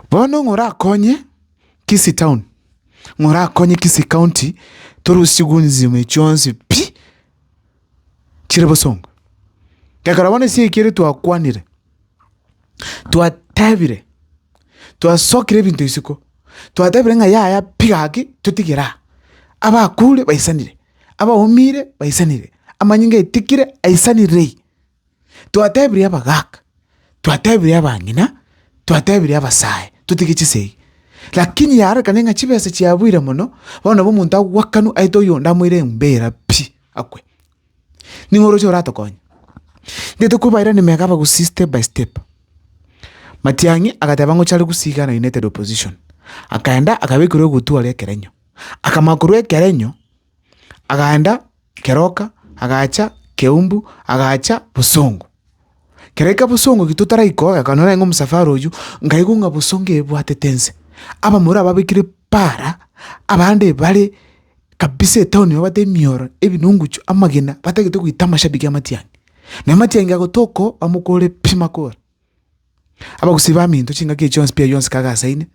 Bono ng'a orakonye Kisii Town, ng'a orakonye Kisii County tore osigwe enzima eye chionsi pi, chire bosongo. Gekara bono ase eki ere twakwanire, twatebire, twasokire ebinto isiko, twatebire ng'a yaya pi gaki totigere aa. Abakure baisanire, abaumire baisanire, amanyinga aitikire aisanirei. Twatebirie abagaaka, twatebirie abang'ina, twatebirie abasae totige chisegi. Lakini yarorekane ng'a chibesa chiabuire mono, bono nabo omonto agwakanu aete oyonde amoire enyomba eyera pi, akwe. Ning'o oroche oratokonye? Intwe tokobairani mega abagusii step by step. Matiang'i agateba ng'o chare gusii Ghana United Opposition, akaenda akabekerwa egutwa aria Ekerenyo, akamanya korwa Ekerenyo. Agaenda keroka, agacha keumbu, agacha bosongo. Kero aika bosongo eki totaraika oye, akanyora naende ng'a omosafari oyio, nkaigwa ng'a bosongo eye ebwatete ense. Abamura ababekire para, abande bare kabisa etown babate emioro, ebinungucho, amagena, batagete goita amashabiki a matiang'i. Naende matiang'i agotoka oo, bamokore pi makoro. Abagusii baminto chingaki echi yonsi pi yonsi kaga ase ime,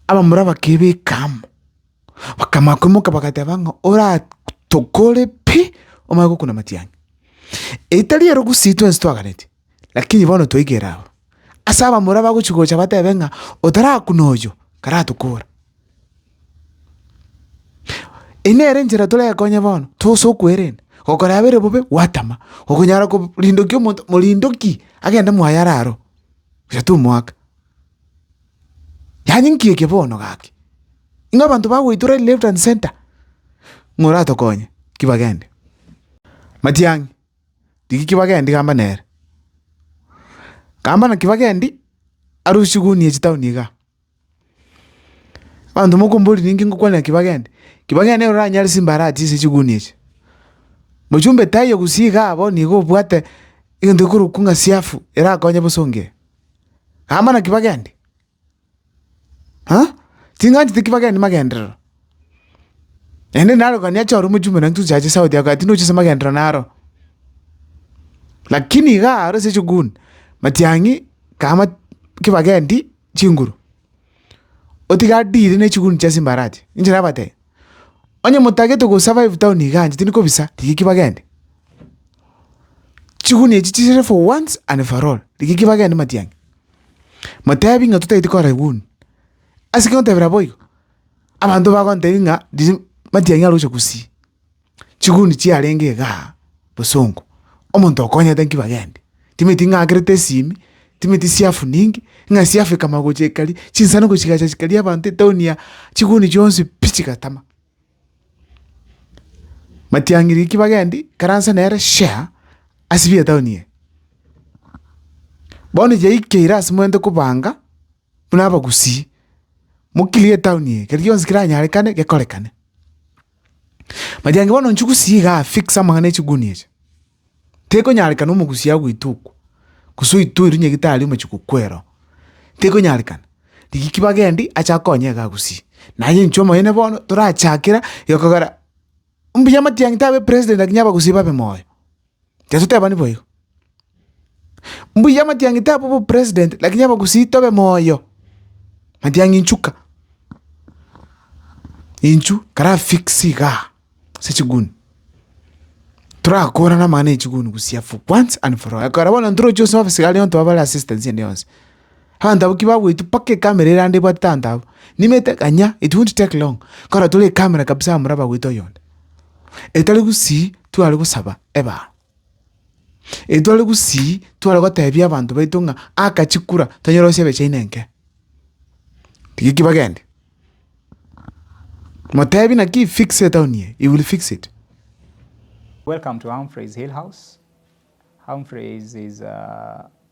abamura bakebeka amo, bakamanya koimoka bagateba ng'a oraa tokore pi omanye gokuna matiang'i. Eri tari erogusii twensi twaganetie, lakini bono twaigera abwo, ase abamura bagochi gocha batebe ng'a otarakuna oyo karatokora. Eyio nere enchera torekonye bono, tose okwerenda, gokora yabo ere bobe gwatama, okonyara korindokia omonto, morindoki agende mwaye are aro, onya tomoaka. Yaani nki eke bono gaki? Ng'a abanto bagweitora left and centre, ng'a oratokonye, ki bagende. Matiang'i, rigia ki bagendi gamba nere, gamba naki bagendi arusie gunia chitaoni igaa. Abanto mokombori ninki ngokwanera ki bagende? Ki bagende nigo oranyare chimbaraha chia ase chigunia echi. Mochumbe tai oo gusii igaa abwo nigo obwate egento gekorokwa ng'a siafu erakonye bosa ongee. Aa mana ki bagende? Aa? Ting'anchete ki bagende magenderero. Naende naro gani acha ore omochumbe nonye tochache sauti yao gaki nochia ase magenderero naro. Lakini igaa aro ase chiguni, matiang'i kama ki bagendi chinguru, otiga adire ne chiguni chia simbarachi, inche nabatebia, onye motagete go survive town iga anche tindi kobisa, rigiki bagende. Chiguni echi chisire for once and for all, rigiki bagende matiang'i. Motebi ng'a totagete kora eguni, ase ki otebera boigo? Abanto bagontebia ng'a matiang'i aroche gusii. chiguni chiarenge iga aa bosongo, omonto okonyete nki bagendi? Timanyeti ng'a agerete esimi, timanyeti siafu ninki, ng'a siafu ekamanya gocha ekari, chinsano gochigacha chikaria abanto etown ya, chiguni chionsi pi chigatama. Matiang'iri nki bagendi? Karanse nere share ase bi etaoni eye. Bono yaikeire ase momanyete kobanga buna abagusii, mo clear etaoni eye, keri gionsi keranyarekane gekorekane. Majangi bono inche gusii igaa fix amang'ana echigunia echi. Tekonyarekana omogusii agoita okwo, gose oite oirwe nyagetari omochie kokwera oo. Tekonyarekana, rigia ki bagendi achake konya iga gusii. Naye inche omonyene bono torachakera iga kogera, mbuya amatiang'i tabe president lakini abagusii babe moyo. Yeso tebani boigo. Mbuya amatiang'i tabe obopresident, lakini abagusii tobe moyo. Matiang'i inchu ka, inchu karafix igaa ase chiguni, torakorana amang'ana 'na echiguni busia for once and for all. Ekero bono ntoroche ase office iga aria onto abare assistance ende yonsi. Abanto ki bagwetu mpaka ekamera ere aande ebwate abanto abwo. Nimanyete kanya it won't take long nkona tore ekamera kabisa amore abagwete oyonde. Etari gusii tware gosaba ebaao. Etware gusii tware gotebia abanto baito ng'a aka chikura tonyore gose ebecha ime enke. Rigia ki bagende. Motebi naki fix etown eye, he will fix it.